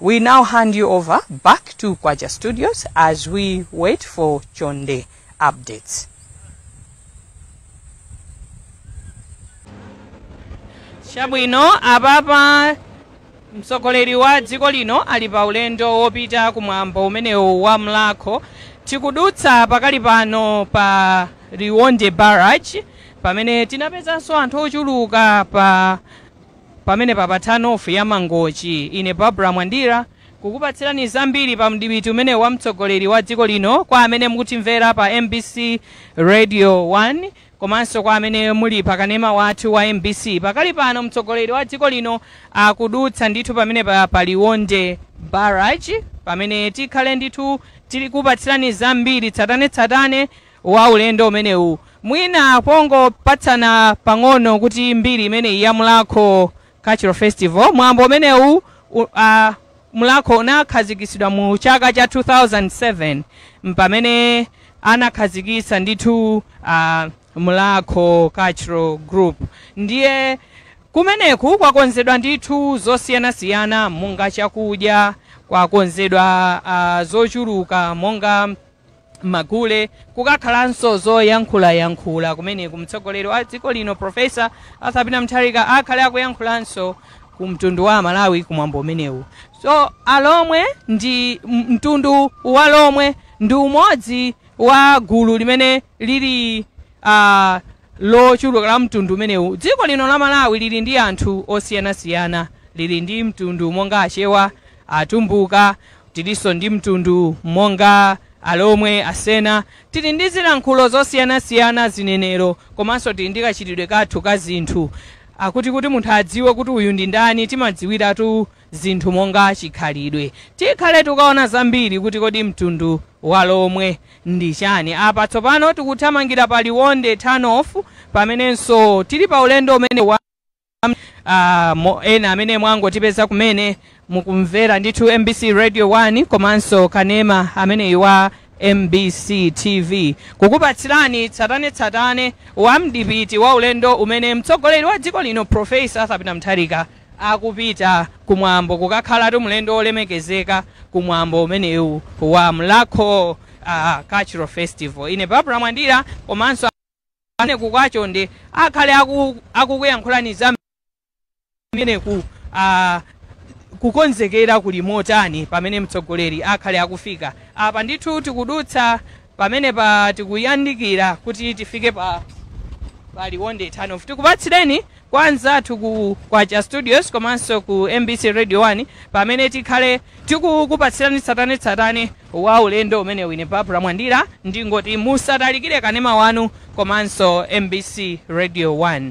We now hand you over back to Kwacha Studios as we wait for Chonde updates. Chabwino apapa mtsogoleri wa dziko lino ali pa ulendo wopita kumwambo umenewu wa mlakho tikudutsa pakali pano pa Liwonde Barrage pamene tinapezanso anthu ochuluka pa Pamenepa pa turn off ya Mangochi. Ine Barbara Mwandira kukupatsirani zambiri pa mdipiti umenewu wa mtsogoleri wa dziko lino kwa amene mukutimvera pa mbc Radio 1 komanso kwa amene muli pa kanema wathu wa mbc. Pakali pano mtsogoleri wa dziko lino akudutsa ndithu pamenepa pa Liwonde Barrage pamene tikhale ndithu tikupatsirani zambiri tsatanetsatane wa ulendo umenewu. Mwina pongopatsana pang'ono kuti mbiri imeneyi ya Mulakho Cultural Festival, mwambo umenewu u- uh, Mulakho unakhazikitsidwa mu chaka cha 2007 mpamene anakhazikitsa ndithu uh, Mulakho Cultural Group ndiye kumeneku kwakonzedwa ndithu zosiyanasiyana monga chakudya kwakonzedwa uh, zochuluka monga magule kukakhalanso zoyankhulayankhula kumeneku mtsogoleri wa dziko lino profesa arthur peter mutharika akhale akuyankhulanso ku mtundu wa amalawi kumwambo umenewu so alomwe ndi m- mtundu wa lomwe ndi umodzi wa gulu limene lili uh, lochuluka la mtundu umenewu dziko lino la malawi lili ndi anthu osiyanasiyana lili ndi mtundu monga achewa atumbuka Tilinso ndi mtundu monga Alomwe, Asena. Tili ndi zilankhulo zosiyanasiyana, zinenero komanso tili ndi kachitidwe kathu ka zinthu. a Kuti kuti munthu adziwe kuti uyu ndi ndani timadziwiratu zinthu monga chikhalidwe. Tikhale tikaona zambiri kuti kodi mtundu wa Lomwe ndi chani. Apa tsopano tikuthamangira pa Liwonde Turn-off pamenenso tili pa ulendo umenewu wa. ah, mo, ena amene mwangotipeza kumene mukumvera ndithu mbc radio 1 komanso kanema ameneyu wa mbc tv kukupatsirani tsatanetsatane wa mdipiti wa ulendo umene mtsogoleri wa dziko lino profesa arthur peter mutharika akupita kumwambo kukakhalatu mlendo wolemekezeka kumwambo umenewu wa mlakho ah, cultural festival ine barbara mwandira komanso kumeneku kwa chonde akhale aku- akukuyankhulani za kumeneku ah, kukonzekera kuli motani pamene mtsogoleri akhale akufika apa ndithu tikudutsa pamene pa tikuyandikira kuti tifike pa pa liwonde turn off tikupatsireni kwa anzathu ku kwacha studios komanso ku mbc radio 1 pamene tikhale tikukupatsirani tsatanetsatane wa ulendo umenewu ine barbara mwandira ndingoti musatalikire kanema wanu komanso mbc radio 1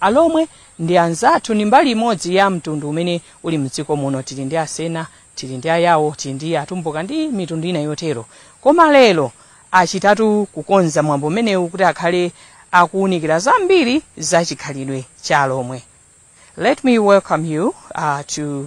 alomwe ndi anzathu ndi mbali imodzi ya mtundu umene uli mdziko muno tili ndi asena tili ndi ayawo tili ndi atumbuka ndi mitundu ina yotero koma lero achitatu kukonza mwambo umenewu kuti akhale akuwunikira zambiri za chikhalidwe cha alomwe let me welcome you uh, to